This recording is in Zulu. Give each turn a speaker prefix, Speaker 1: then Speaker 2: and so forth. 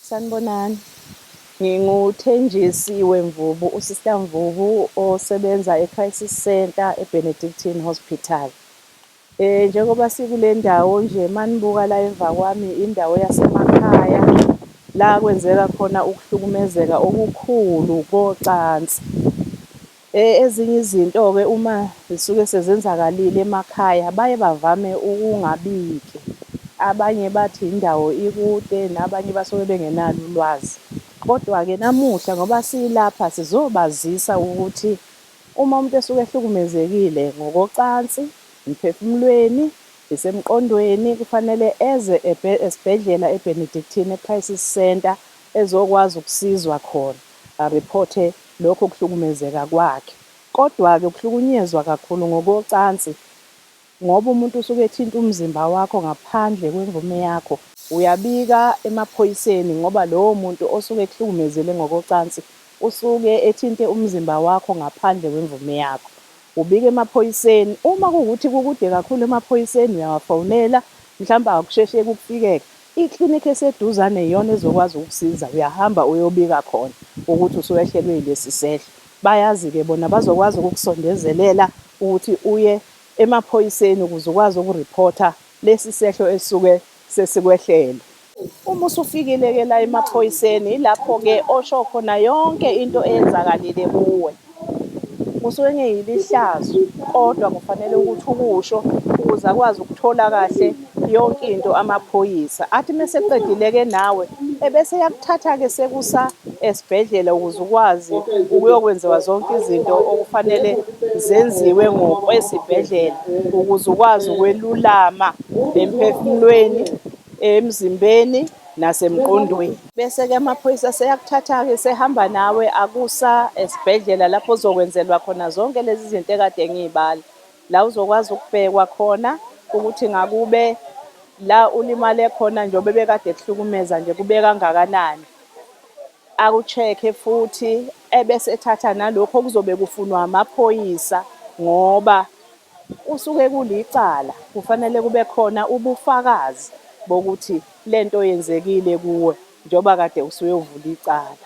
Speaker 1: Sanibonani. Ngingu Thenjisiwe Mvubu, uSister Mvubu osebenza eCrisis Centre eBenedictine Hospital. Eh njengoba sikule ndawo nje manibuka la emva kwami indawo yasemakhaya la kwenzeka khona ukuhlukumezeka okukhulu kocansi. Ezinye izinto-ke uma zisuke sezenzakalile emakhaya baye bavame ukungabiki. Abanye bathi indawo ikude nabanye basuke bengenalo ulwazi. Kodwa-ke namuhla ngoba silapha sizobazisa ukuthi uma umuntu esuke ehlukumezekile ngokocansi, emphefumulweni, isemqondweni kufanele eze esibhedlela eBenedictine Crisis Centre ezokwazi ukusizwa khona, a-reporte Lokho ukuhlukumezeka kwakhe. Kodwa-ke ukuhlukunyezwa kakhulu ngokocansi ngoba umuntu usuke ethinta umzimba wakho ngaphandle kwemvume yakho. Uyabika emaphoyiseni ngoba lowo muntu osuke ekuhlukumezele ngokocansi usuke ethinte umzimba wakho ngaphandle kwemvume yakho. Ubika emaphoyiseni. Uma kuwukuthi kukude kakhulu emaphoyiseni uyawafonela, mhlawumbe akusheshe kukufikeke. Iklinikhi eseduzane iyona ezokwazi ukukusiza, uyahamba uyobika khona ukuthi usuwehlelwe yilesi sehlo. Bayazi-ke bona, bazokwazi ukukusondezelela ukuthi uye emaphoyiseni ukuze ukwazi ukuriphotha lesi sehlo esisuke sesikwehlele. Uma usufikile-ke la emaphoyiseni, yilapho-ke osho khona yonke into eyenzakalile kuwe. Kusuke kungeyilo ihlazo kodwa kufanele ukuthi ukusho ukuze akwazi ukuthola kahle yonke into amaphoyisa. Athi meseqedile-ke nawe ebese eyakuthatha-ke sekusa esibhedlela ukuze ukwazi ukuyokwenziwa zonke izinto okufanele zenziwe ngokwesibhedlela ukuze ukwazi ukwelulama emphefumulweni, emzimbeni nasemqondweni. Bese-ke amaphoyisa seyakuthatha-ke sehamba nawe akusa esibhedlela lapho uzokwenzelwa khona zonke lezi zinto ekade ngiyibala la uzokwazi ukubhekwa khona ukuthi ngakube la ulimale khona njengoba bekade kuhlukumeza nje kube kangakanani akucheck-e futhi ebese ethatha nalokho okuzobe kufunwa amaphoyisa ngoba Kusuke kulicala, kufanele kube khona ubufakazi bokuthi le nto yenzekile kuwe njengoba kade usuyovula icala.